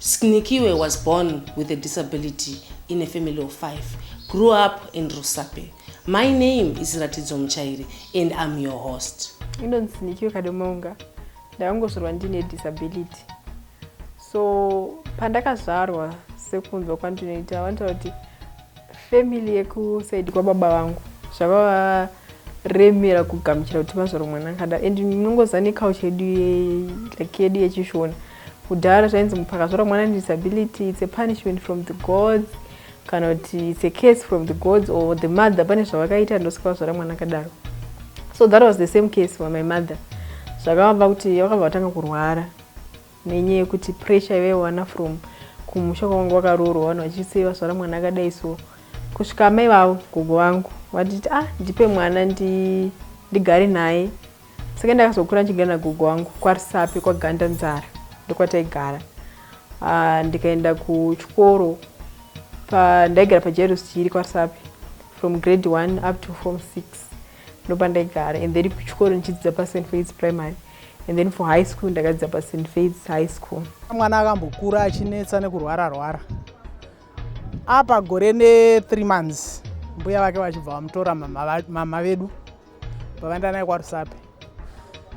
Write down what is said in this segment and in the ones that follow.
Snikiwe was born with a disability in a family of five, grew up in Rusape. My name is Ratidzo Muchairi and I'm your host. Inonzi Snikiwe Kadomaunga. Ndakangozvarwa ndine disability. So pandakazvarwa sekunzwa kwandinoita vanotaura kuti family yekusaidi kwababa vangu zvavava remera kugamuchira kuti mazvaro mwana akada and ndinongoziva neculture yedu like yedu yechishona Kudhara zvainzi mupfu akazvara mwana ane disability it's a punishment from the gods kana kuti it's a case from the gods or the mother pane zvavakaita ndosaka vazvara mwana akadaro so that was the same case for my mother zvakavamba kuti vakabva vatanga kurwara nenyaya yekuti pressure yavaiwana from kumusha kwavanga vakaroorwa vanhu vachise vazvara mwana akadai so kusvika amai vavo gogo vangu vatiti ah ndipe mwana ndigare naye saka ndakazokura ndichigara nagogo wangu kwarisapi kwaganda nzara ndokwataigara ah, ndikaenda kuchikoro ndaigara pajerusi chiri kwarisapi from grade one up to form six ndopandaigara and then kuchikoro ndichidzidza pasen faids primary and then for high school ndakadzidza pasen faids high school mwana akambokura achinetsa nekurwara rwara apa gore ne three months mbuya vake vachibva vamutora mama vedu pavaenda naye kwarusape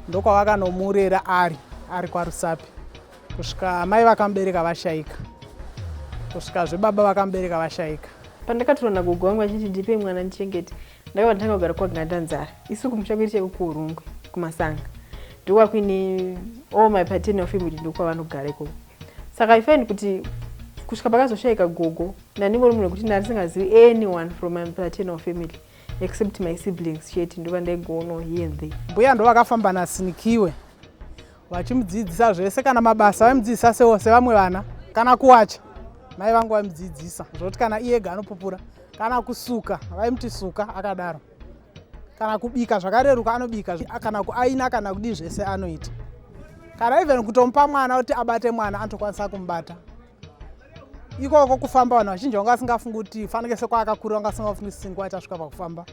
ndokwavakanomurera ari ari kwarusape kusvika amai vakamubereka vashaika kusvika zvebaba vakamubereka vashaika pandakatoona gogo wangu achiti ndipe mwana ndichengete ndakabva nditanga kugara kwaganda nzara isu kumusha kwedu chaiko kuurungwe kumasanga ndokwa kuine all my paternal family ndokwavanogara ikoko saka i find kuti kusvika pakazoshaika gogo ndaningori munhu wekuti ndarisingazivi anyone from my paternal family except my siblings chete ndovandaigoono here the mbuya ndovakafamba nasinikiwe vachimudzidzisa zvese kana mabasa vaimudzidzisa sewo sevamwe vana kana kuwacha mai vangu vaimudzidzisa zvokuti kana iyega anopupura kana kusuka vaimuti suka akadaro kana kubika zvakareruka anobika kana kuaina kana kudii zvese anoita kana even kutomupa mwana kuti abate mwana anotokwanisa kumubata ikoko kufamba vanhu vazhinji vanga vasingafungi kuti fanike sekwaakakura vanga vasingafungi singwa itasvika pakufamba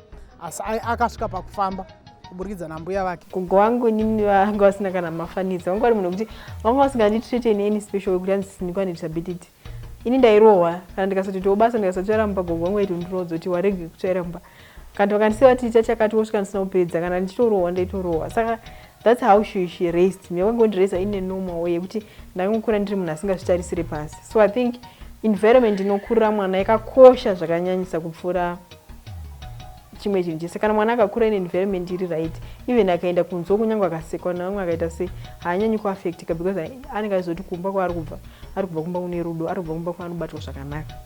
asi akasvika pakufamba kuburikidza nambuya vake gogo wangu inini vanga vasina kana mafanidza vanga vari munhu wekuti vanga vasinganditreate in any special wekuti anzi sindikwa nedisability ini ndairohwa kana ndikasatoitawo basa ndikasatotsvaira mumba gogo wangu aiti undiroodza kuti warege kutsvaira mumba Kana vakandisiya vati ita chakati wosvika ndisina kupedza kana ndichitorohwa ndaitorohwa saka that's how she, she raised me vakangondiraiza in a normal way yekuti ndakangokura ndiri munhu asingazvitarisire pasi so i think environment inokurira mwana yakakosha zvakanyanyisa kupfuura chimwe chinhu chese kana mwana akakura ine environment iri right even akaenda kunzwa kunyange akasekwa nevamwe akaita sei haanyanyi kuaffectika because anenge aizoti kumba kwaari kubva ari kubva kumba kune rudo ari kubva kumba kwaanobatwa zvakanaka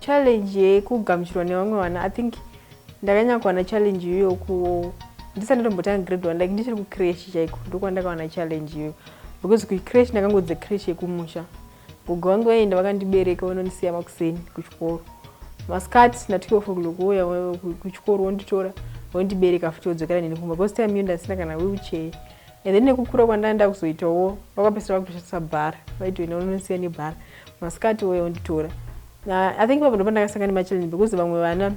Challenge yekugamuchirwa nevamwe vana i think ndakanyanya kuwana challenge iyoyo kuwo ndisati ndatombotanga grade one like ndichiri kucresh chaiko ndokwandakawana challenge iyoyo because kucresh ndakangodze cresh yekumusha gogo vangu vaienda vakandibereka vanondisiya makuseni kuchikoro masikati na 12 o'clock vouya kuchikoro vonditora vondibereka futi vodzokera neni kumba because time iyo ndasina kana wheelchair And then nekukura kwandanga ndakuzoitawo vakapesera vakutoshandisa bar vaiti wena unonosiya nebar masikati wouya unditora uh, i think ipapo ndopandakasanga nemachallenge because vamwe vana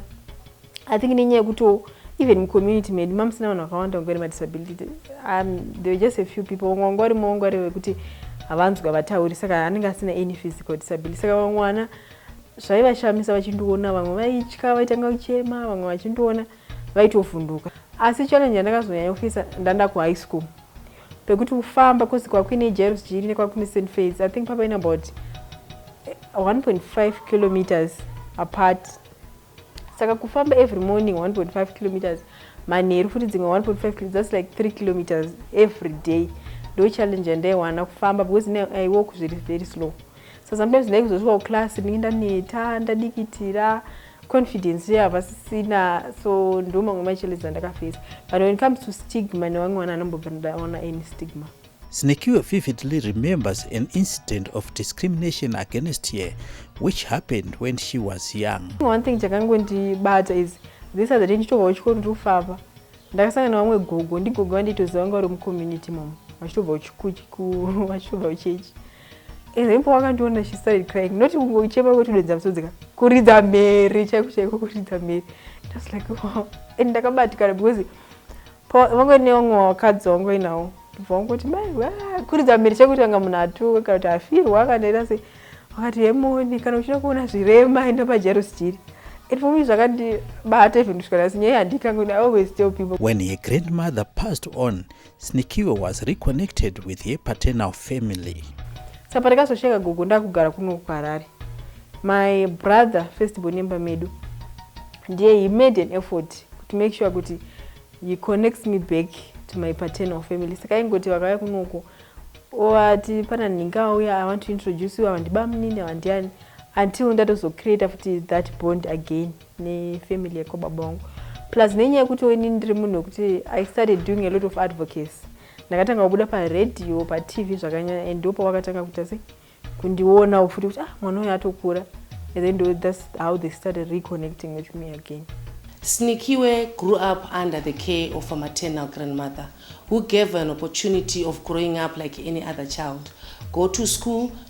i think nenyaya yekutiwo even mucommunity medu mamusina vanhu vakawanda vanga vane madisability um, there were just a few people vamwe vanga varimo vanga vari vekuti havanzwi havatauri saka anenge asina any physical disability saka vamwe vana zvaivashamisa vachindiona vamwe vaitya vaitanga kuchema vamwe vachindiona vaitovhunduka asi challenge yandakazonyanya kufisa ndanda ku high school pekuti kufamba cause kwakuine jairos jiri nekwakuine st fades i think papaine about 1.5 kilometers apart saka kufamba every morning 1.5 kilometers manheru futi dzimwe 1.5 thats like 3 kilometers every day ndo challenge yandaiwana kufamba because i walk zviri very slow so sometimes ndaikuzosvika kuclass ndinge ndaneta ndadikitira confidence ye havasisina so ndo mamwe machallenges andakafesa but when it comes to stigma newamwe mwana anombobva ndaona any stigma Snekiwe vividly remembers an incident of discrimination against her which happened when she was young. One thing chakangondibata is this other day ndichitobva kuchikoro ndiri kufamba ndakasangana nevamwe gogo ndigogo vanditoziva vanga vari mucommunity momo vachitobva vachitobva kuchechi Ezempo wakandiona she started crying not kungochema kotidonza musodzi ka kuridza mhere chaiko chaiko kuridza mhere it was like wow and ndakabatikana because vangu ine vamwe vakadzi vangu vainawo ndibva vangoti mai kuridza mhere chaiko kuti kanga munhu atuka kana kuti afirwa kana ita sei vakati hemoni kana uchida kuona zvirema enda pajaros jiri and for me zvakandibata even kusvika nhasi nyaya handikangoni i always tell people when her grandmother passed on Snikiwe was reconnected with her paternal family. Sapa rikazosheka gogo ndakugara kuno kuHarare. My brother first born nemba medu ndiye he made an effort to make sure kuti he connects me back to my paternal family saka ingoti vakauya kunoko ovati pana nhingi auya i want to introduce you ava ndibamunini ava ndiani until ndatozocreata futi that bond again nefamily yekwababa wangu plus nenyaya yekuti ini ndiri munhu wekuti i started doing a lot of advocacy ndakatanga kubuda paradio patv zvakanyanya and ndopa wakatanga kuita sei kundionawo futi kuti ah mwana uyo atokura and then ndo, thats how they started reconnecting with me again snikiwe grew up under the care of a maternal grandmother who gave an opportunity of growing up like any other child go to school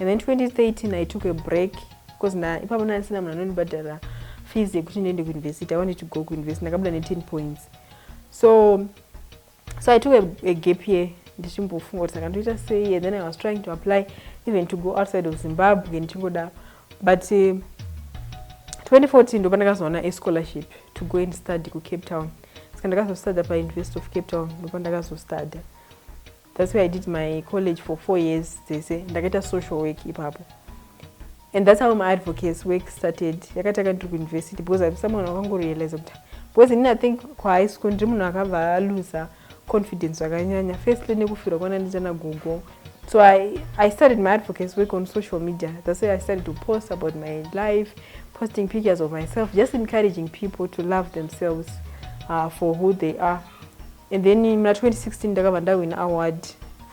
And then 2013 I took a break because na ipapo ndandisina munhu anondibhadhara fees yekuti ndiende kuuniversity. I wanted to go kuuniversity. Ndakabuda ne 10 points. So so I took a, a gap year ndichimbofunga kuti saka ndoita sei and then I was trying to apply even to go outside of Zimbabwe ndichingoda but uh, 2014 ndo pandakazoona a scholarship to go and study kucape town saka ndakazostudya pauniversity of cape town ndo pandakazostudy That's where I did my college for four years dzese ndakaita social work ipapo and that's how my advocates work started yakatanga ndiri kuuniversity because I'm someone wakangorealiza kuti because ini I think kuhigh school ndiri munhu akabva aluza confidence zvakanyanya firstly nekufirwa kwana ndichana gogo so I, I started my advocates work on social media that's where I started to post about my life posting pictures of myself just encouraging people to love themselves uh, for who they are And then muna 2016 ndakabva ndawina award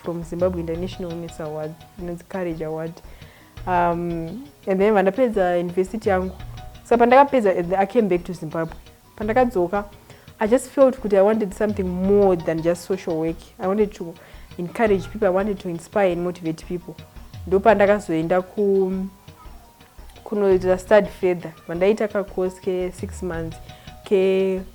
from Zimbabwe International Women's Award inonzi Courage Award um, and then vandapedza university yangu so pandakapedza I came back to Zimbabwe pandakadzoka I just felt kuti I wanted something more than just social work I wanted to encourage people I wanted to inspire and motivate people ndopandakazoenda ku kunoita study further vandaita kacourse ke six months ke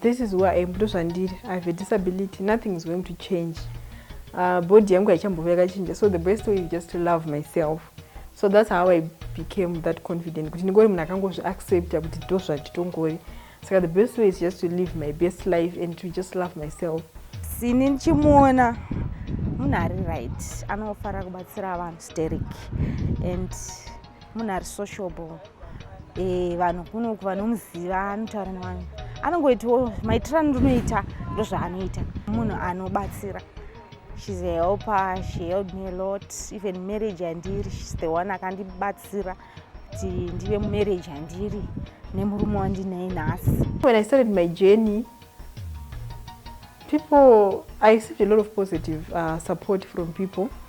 This is who I am, ndozvandiri. I have a disability, nothing is going to change. Uh, body yangu haichambove yakachinja, so the best way is just to love myself. So that's how I became that confident, kuti ndingori munhu akangozvi accepta kuti ndozvatitongori. Saka the best way is just to live my best life and to just love myself. Sini ndichimuona munhu ari right, anofara kubatsira vanhu sterek and munhu ari sociable eh, vanhu kunoku vanomuziva anotaura nevanhu anongoitiwo maitiro andonoita ndozvaanoita munhu anobatsira shes a helper she helped me a lot even marriage yandiri shes the one akandibatsira kuti ndive mumarriage yandiri nemurume wandinaye nhasi when i started my journey people i received a lot of positive uh, support from people mm.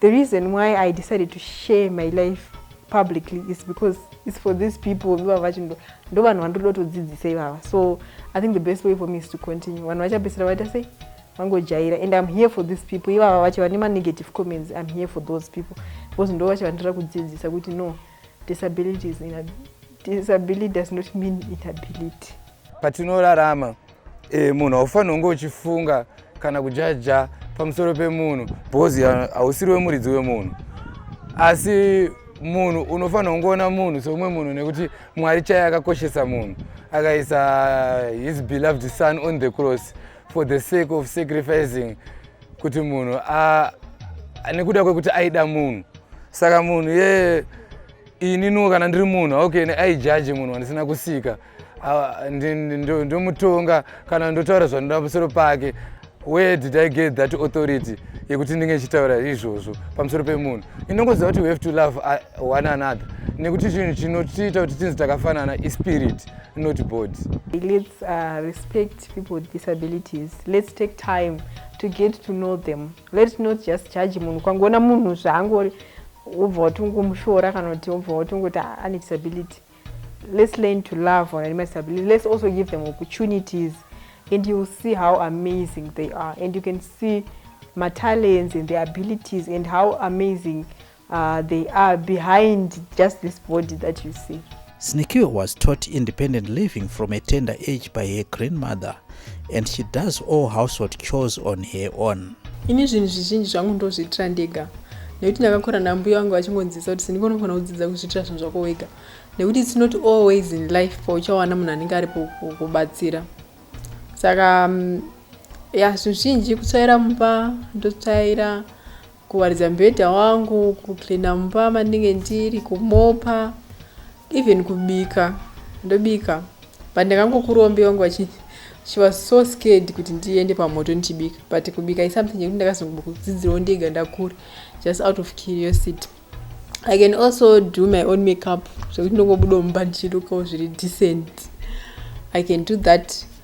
The reason why I decided to share my life publicly is because it's for these people vivava vacho ndo vanhu vandoda kutodzidzisa ivava so i think the best way for me is to continue vanhu vachapedzisira vaita sei vangojaira and im here for these people ivava vacho vane manegative comments im here for those people because ndo vacho vandira kudzidzisa kuti no Disability is in a, disability does not mean inability. Patinorarama e, munhu haufanira kunge uchifunga kana kujaja pamusoro pemunhu because hausiri wemuridzi wemunhu asi munhu unofanira kungoona munhu seumwe munhu nekuti mwari chaiye akakoshesa munhu akaisa his beloved son on the cross for the sake of sacrificing kuti munhu nekuda kwekuti aida munhu saka munhu ye ininiwo kana ndiri munhu okay aijaji munhu wandisina kusika ndomutonga kana ndotaura zvanoda pamusoro pake where did i get that authority yekuti ndinge ichitaura izvozvo pamusoro pemunhu inongoziva kuti we have to love uh, one another nekuti chinhu chinotiita kuti tinzi takafanana ispirit not body lets uh, respect people with disabilities let's take time to get to know them let's not just judge munhu ukangoona munhu zvaangori wobva watongomushora kana kuti wobva watongoti ah, ane disability let's learn to love on anima disability let's also give them opportunities and you will see how amazing they are and you can see matalents and their abilities and how amazing Ahh they are behind just this body that you see. Sneaky was taught independent living from a tender age by her grandmother and she does all household chores on her own. Ini zvinhu zvizhinji zvangu ndozviitira ndega nekuti ndakakura nambuya vangu vachingonzisa kuti sindiko unofana kudzidza kuzviitira zvinhu zvako wega nekuti its not always in life pauchawana munhu anenge ari kubatsira saka mm, ya zvinhu zvinji kutsvaira mumba ndotsvaira Kuwaridza mubhedha wangu, kucleaner mumba mandinge ndiri, kumopa, even kubika, ndobika. But ndakangokurombe wangu vachi, she was so scared kuti ndiende pamoto ndichibika. But kubika is something yekuti ndakazongodzidzirawo ndega ndakura, just out of curiosity. I can also do my own makeup zvekuti ndongobudawo mumba ndichirukawo zviri decent. I can do that.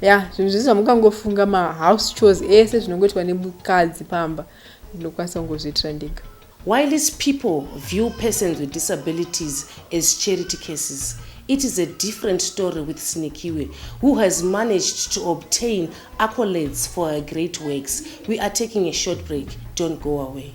ya yeah, zvinhu zvese zvamungangofunga mahouse chores ese zvinongoitwa nemukadzi pamba ndinokwanisa kungozviitira ndega while is people view persons with disabilities as charity cases it is a different story with sinikiwe who has managed to obtain accolades for her great works we are taking a short break don't go away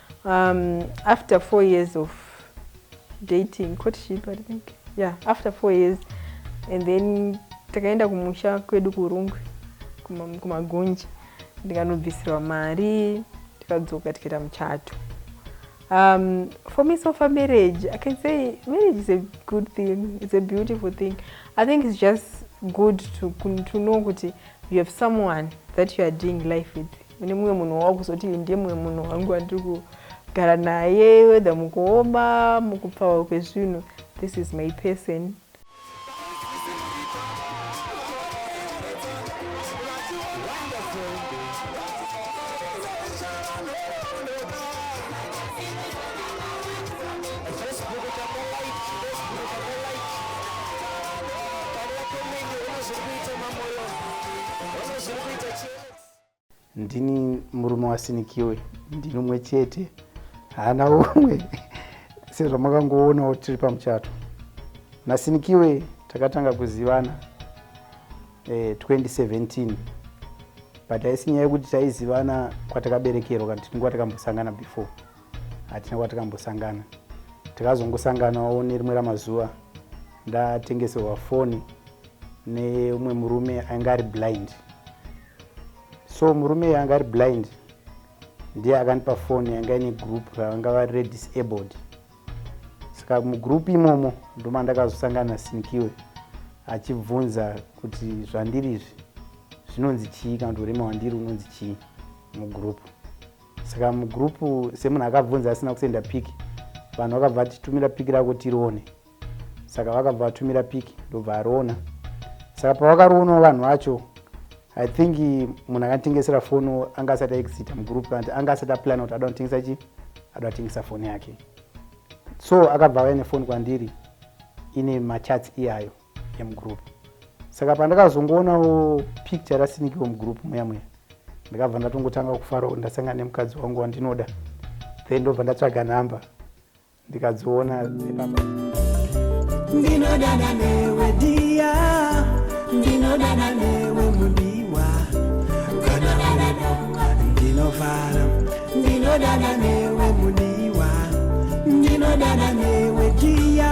Um, after four years of dating, courtship, I think. Yeah, after four years. And then takaenda kumusha kwedu kurungwe kumagunji ndikanobvisirwa mari tikadzoka tikaita muchato um, for me so far marriage i can say marriage is a good thing it's a beautiful thing i think it's just good to, to know kuti you have someone that you are doing life with mune mumwe munhu wawakuzoti ndiye mumwe munhu wangu wandiri kugara naye whether mukuoma mukupfawa kwezvinhu this is my person Ndini murume wasinikiwe ndinomwe chete haana umwe sezvamakangoonawo tiri pamuchato nasinikiwe takatanga kuzivana eh, 2017 but haisi nyaya yekuti taizivana kwatakaberekerwa kana tinenge watakambosangana before hatina kwatakambosangana takazongosanganawo nerimwe ramazuva ndatengeserwa foni neumwe murume ainge ari blind so murume iye anga ari blind ndiye akandipa foni yanga ine group ravanga vari redisabled saka mugroup imomo ndoma ndakazosangana sinikiwe achibvunza kuti zvandiri izvi zvinonzi chii kana kuti urema wandiri unonzi chii mugroup saka mugroup semunhu akabvunza asina kusenda piki vanhu vakabva vatitumira piki rako tirione saka vakabva vatumira piki ndobva ariona saka pavakarionawo vanhu vacho i think munhu akanitengesera foni anga asati aexita mugroup kanti anga asati aplana kuti ada kutengesa chii ada kutengesa foni yake so akabva vaya nefoni kwandiri ine machats iyayo yemugroup saka pandakazongoonawo picture rasinikiwo mugroup muya muya ndakabva ndatongotanga kufarawo ndasangana nemukadzi wangu wandinoda then ndobva ndatsvaga number ndikadziona dzepapa ndinodana newe dia ndinodana newe mudiwa kana vanadonga ndinovara ndinodana newe mudiwa ndinodana newe dia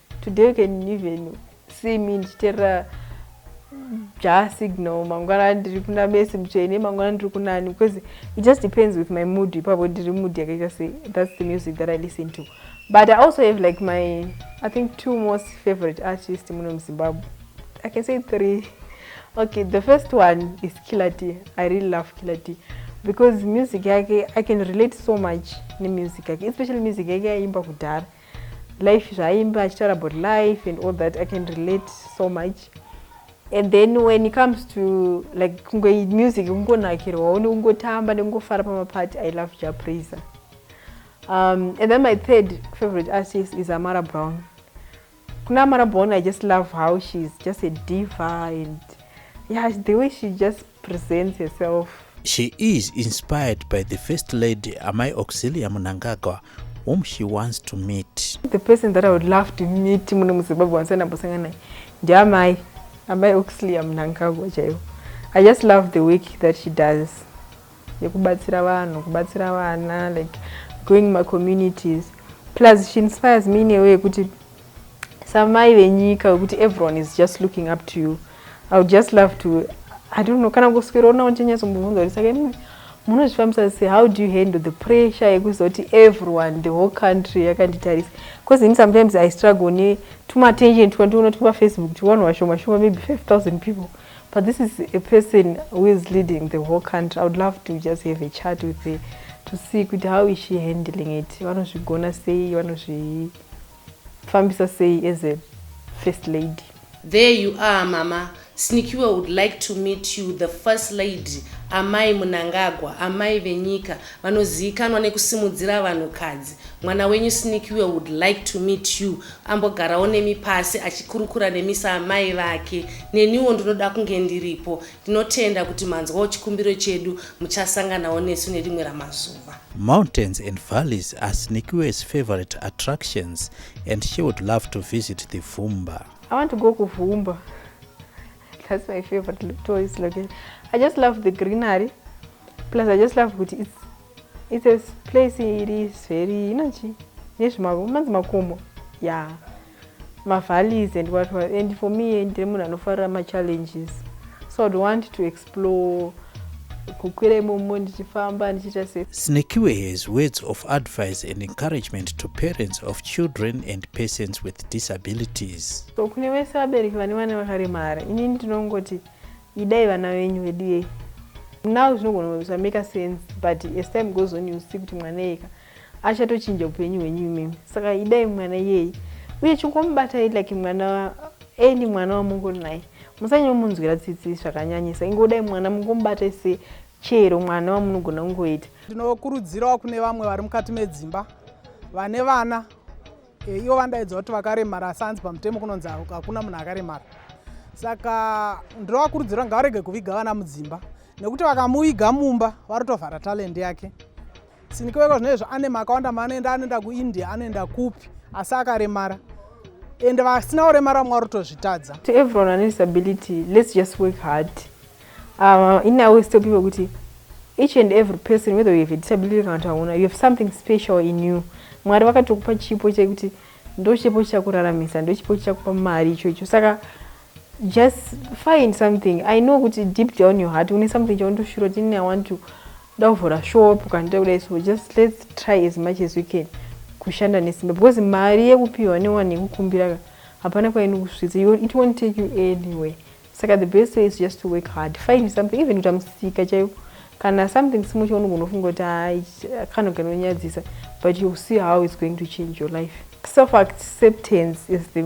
Today you can even see me ndichiterera ja signal mangwana ndiri kuna mesi mutsvene mangwana ndiri kunani because it just depends with my mood ipapo ndiri mood yakaita sei that's the music that i listen to but i also have like my i think two most favorite artist muno muzimbabwe i can say three okay the first one is killer t i really love killer t because music yake i can relate so much nemusic yake especially music yake yaimba kudhara life zvaaimba achitaura about life and all that i can relate so much and then when it comes to like kunge music kungonakirwawo nekungotamba nekungofara pamapati i love ja praiser um, and then my third favorite artist is amara brown kuna amara brown i just love how she's just a diva and yeah the way she just presents herself. She is inspired by the First Lady Amai Auxilia Munangagwa whom she wants to meet. The person that I would love to meet muno muZimbabwe wansana mbosanga naye ndiamai Amai Auxilia Munangagwa chaivo. I just love the work that she does yekubatsira vanhu kubatsira vana like going my communities plus she inspires me in a way yekuti samai venyika wekuti everyone is just looking up to you i would just love to i don't know kana kuswera unawo ndichanyatsombobvunza kuti saka imwe munozvifambisa se how do you handle the pressure yekuziva kuti everyone the whole country yakanditarisa because ini sometimes i struggle ne tumattention twandiona turi pafacebook tiwanhu vashoma shoma maybe 5000 people but this is a person who is leading the whole country i would love to just have a chat with her to see kuti how is she handling it vanozvigona sei vanozvii fambisa sei as a first lady. There you are mama snikiwe would like to meet you the first lady amai munangagwa amai venyika vanoziikanwa nekusimudzira vanhu kadzi mwana wenyu snikiwe would like to meet you ambogarawo nemi pasi achikurukura nemi saamai vake neniwo ndinoda kunge ndiripo Tinotenda kuti manzwawo chikumbiro chedu muchasanganawo nesu nerimwe ramazuva. Mountains and valleys are Sneakywe's favorite attractions and she would love to visit the Vumba. I want to go ku Vumba. That's my favorite tourist location. I just love the greenery. Plus I just love kuti it's, it's a place it is very, you know, nezvimanzi makomo. Yeah. mavalleys and what what and for me ndiri munhu anofarira machallenges so i would want to explore kukwira imomo ndichifamba ndichiita se snekiwe has words of advice and encouragement to parents of children and persons with disabilities so kune vese vabereki vane vana vakaremara inini ndinongoti idai vana venyu vedu yei now zvinogona kuzameka sense but as time goes on you see kuti mwana yeka achatochinja upenyu hwenyu imimi saka idai mwana iyeye uye chingomubatai like mwana any mwana wamungori naye musanyomunzwira tsitsi zvakanyanyisa ingodai mwana mungomubatai se chero mwana wamunogona kungoita ndinokurudzirawo kune vamwe vari mukati medzimba vane vana e, ivo vandaidzwa kuti vakaremara asi hanzi pamutemo kunonzi hakuna munhu akaremara saka ndinovakurudzira ngavarege kuviga vana mudzimba nekuti vakamuviga mumba varotovhara talendi yake Sinikiweka zvine izvo ane makawanda maanoenda anoenda kuindia anoenda kupi asi akaremara and vasina kuremara vamwe vari kutozvitadza to everyone ane disability let's just work hard um, in a way still people kuti each and every person whether you have a disability kana kuti hauna you have something special in you mwari vakatokupa chipo chekuti ndochipo chakuraramisa ndochipo chakupa mari ichocho saka just find something i know kuti deep down your heart une something chaunotoshura kuti ini i want to Toda kuvhura shop kana toda kudai so just let's try as much as we can kushanda nesimba because mari yekupiwa newani yekukumbira ka hapana kwainokusvitsa it won't take you anywhere saka the best way is just to work hard find something even kuita musika chaiwo kana something small chaunogona kufunga kuti hai kana kanonyadzisa but you'll see how it's going to change your life self acceptance is the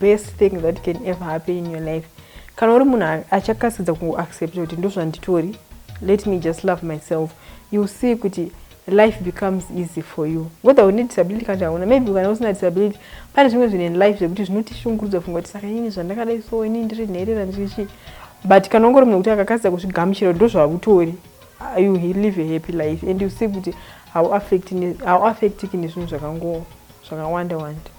best thing that can ever happen in your life Kana uri munhu achakasidza kuaccepta kuti ndozvanditori let me just love myself you'll see kuti life becomes easy for you whether une disability kana chauna maybe kana usina disability pane zvimwe zvinhu in life zvekuti zvinotishungurudza funga kuti saka ini zvandakadai so ini ndiri nherera ndiri chii but kana ungori munhu kuti akakasidza kuzvigamuchira kuti ndozvavutori uh, you live a happy life and you see kuti hauaffectiki nezvinhu zvakangoo zvakawanda wanda